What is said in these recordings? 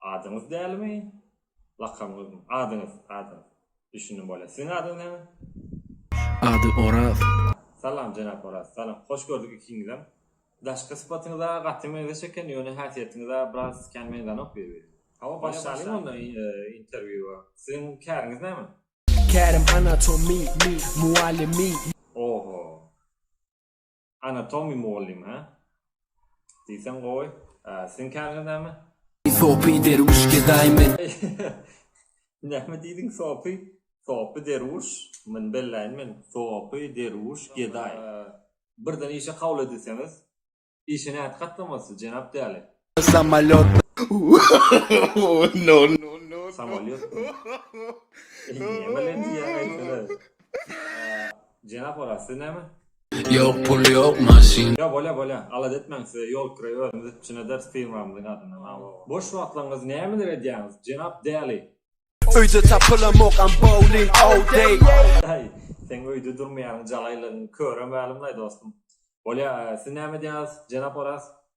Adyňyz dälimi? Lakamyňyzmy? Adyňyz, adyňyz. Düşündim bolýar. Siziň adyňyz näme? Ady Oraz. Salam jenap Oraz. Salam. Hoş gördük ikiňizem. Daşky sypatyňyza gaty meňzeş eken, ýöne häsiýetiňize biraz kän meňzänok bir-birine. Hawa, başlalyň onda interwýua. Siziň käriňiz näme? Kärim anatomy mugallymy. Oho. Anatomy mugallym hä? Diýseň gowy. Siziň kärine näme? Sopy derwüş gezaý men. Näme diýdiň sopy? Sopy derwüş? Muny belläýin men. Sopy derwüş gezaý. Birden işe kabul edilseňiz. Işe nädip gatnamalysy jenap däli? Samolýot. No no no. Samolýot. Näme bilen diýýäň aýtsana. Jenap Oraz siz näme? Ýok pul ýok maşyn. Ýa bolýa bolýa alada etmäň size ýol kireýi özümiz üpjün ederis firmamyzyň adyndan aw aw. Boş wagtlaryňyz nämeler edýäňiz jenap Däli. Öýde tapylamokam bowling all day. Daýy seň öýde durmaýanyň jalaýlygyň köre mälimlaý dostum. Bolýa siz näme edýäňiz jenap Oraz?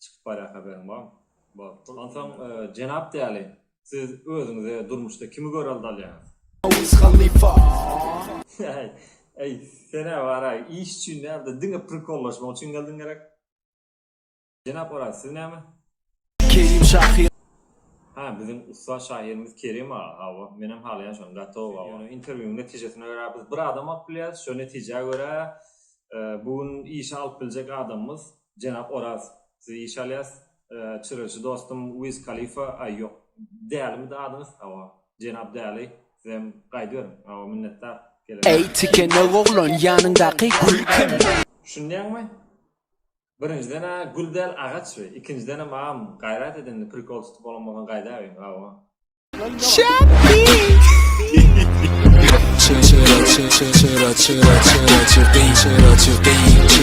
Çykyp barýa haberiň barmy? Bor. Onsoň jenap däli siz özüňize durmuşda kimi görelde alýaňyz? Wiz Halifa. Äý, äý, senä baraý, iş üçin däl-de, diňe prikollaşmak üçin geldiň gerek? Jenap Oraz, siz näme? Kerim şahyr. Hä, biziň ussat şahyrymyz Kerim aga, hawa, menem halaýan şony, gatow, hawa. Ýöne interwýuň netijesine görä biz bir adam alyp bilýäris, şo netijä görä bu gün işe alyp biljek adamymyz Jenap Oraz, siz iş alýas, çyryjy dostum Wiz Kalifa, aý, ýok, Dälimidi adyňyz? Hawa, jenap Däli, sizem gaýdyberiň. Hawa, minnetdar, gelemok. Äý, tikenok oglan, ýanyňdaky gül kim? Düşünýäňmi? Birinjiden-ä gül däl, agaç bi, ikinjidenem agam gaýrat ed indi, prikol tutup bolan bolsaň gaýdabiň, hawa. Şapbir!